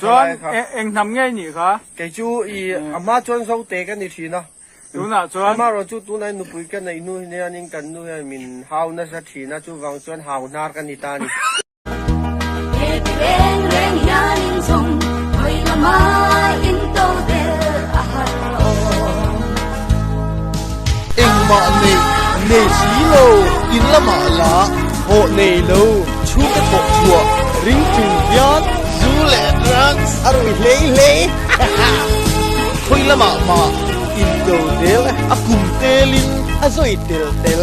Chuan eng hnam ngei nih kha? Kei chu i amah chuan zote ka ni thin a. Tunah chuan? Amaherawh chu tunah i nupui ka neih hnu hianin kan nu hian min hau nasa thin a, chuvang chuan hau hnar ka ni ta a ni. Engmah neih nei hrih lo, in lamah la hawh nei lo, thu ka thawh thuah ring chung hian zu leh drugs a rui hlei hlei, khawi lamah mah in do tel a kum tel in a zawi tel tel.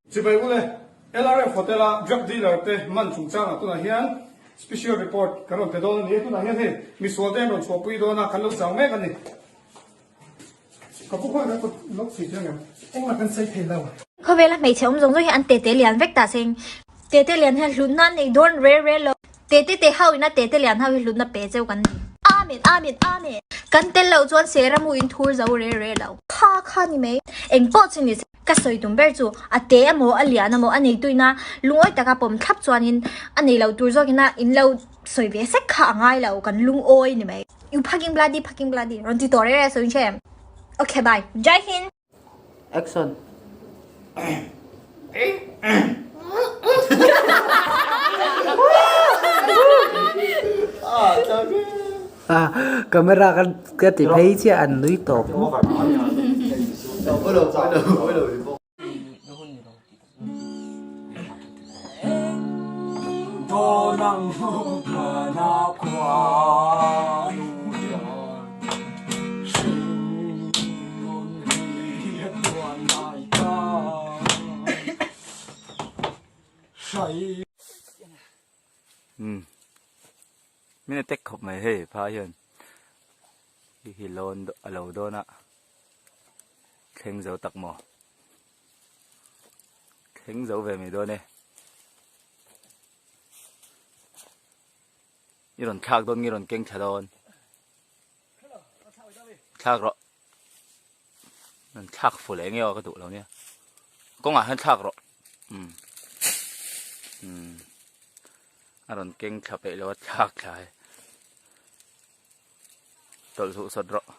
Chu bai u le, LRF hotel a drug dealer te man chungchanga tunah hian special report kan rawn pe dawn a ni e, tunah hian hei misual te an rawn chhuah pui dawn a, kan lo chang mek a ni. Ka pu khawi kan kut lawk si chiang em? Engmah kan sawi thei lo. Khawvela hmeichhe awm zawng zawng hian an tete lian vek ta seng. Tete lian hian hlut nan nei dawn rel rel lo. Tete te hau ina tete lian hau hi hlutna pe cheu kan ni. Amen amen amen. Kan tel lo chuan seramu in thur zo rel rel lo. Kha kha ni mai. Eng pawh chu ni se. Ka sawi tum ber chu a te a maw a lian a maw a nei tuina lungawi taka pawm thlap chuanin a nei lo tur zawkina in lo sawi ve sek kha a ngai lo kan lungawi ni mai. You fucking bloody fucking bloody rawn ti tawh reh reh sawi che em ok bye jai hind. Action. Camera ka ti phei chiah an nui tawp bawk. umm min attack khawp mai hei pha hian hi hi lawn a lo dawn a thleng zo tak maw thleng zo ve mai dawn e i rawn thlak dawn nge i rawn keng thla dawn. thlak rawh an thlak fu leh ngeuh a ka duh lo nia kawngah hian thlak rawh um um a rawn keng thla peih lo a thlak thla hi tawlh hluh sawt rawh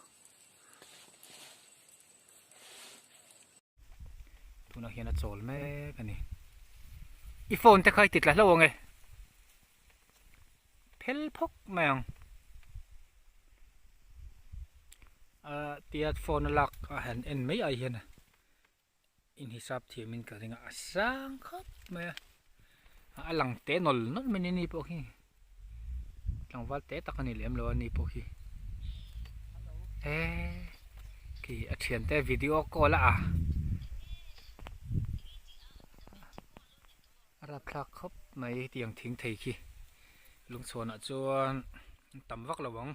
tunah hian a chawl mek a ni i phone te kha i titla hlauh ang e phel phawk mai ang ah tiat phone a lak a han en mai ai hian a in hisap thiam in ka ring a a sang khawp mai a a lang teh nawl nawl mai a ni ni pawh khi tlangval teh tak a ni lem lo a ni pawh khi eh khi a thian te video call a ah A rat thlak khawp mai tiang thing thei khi lungchhuanah chuan a tam vak lo ang.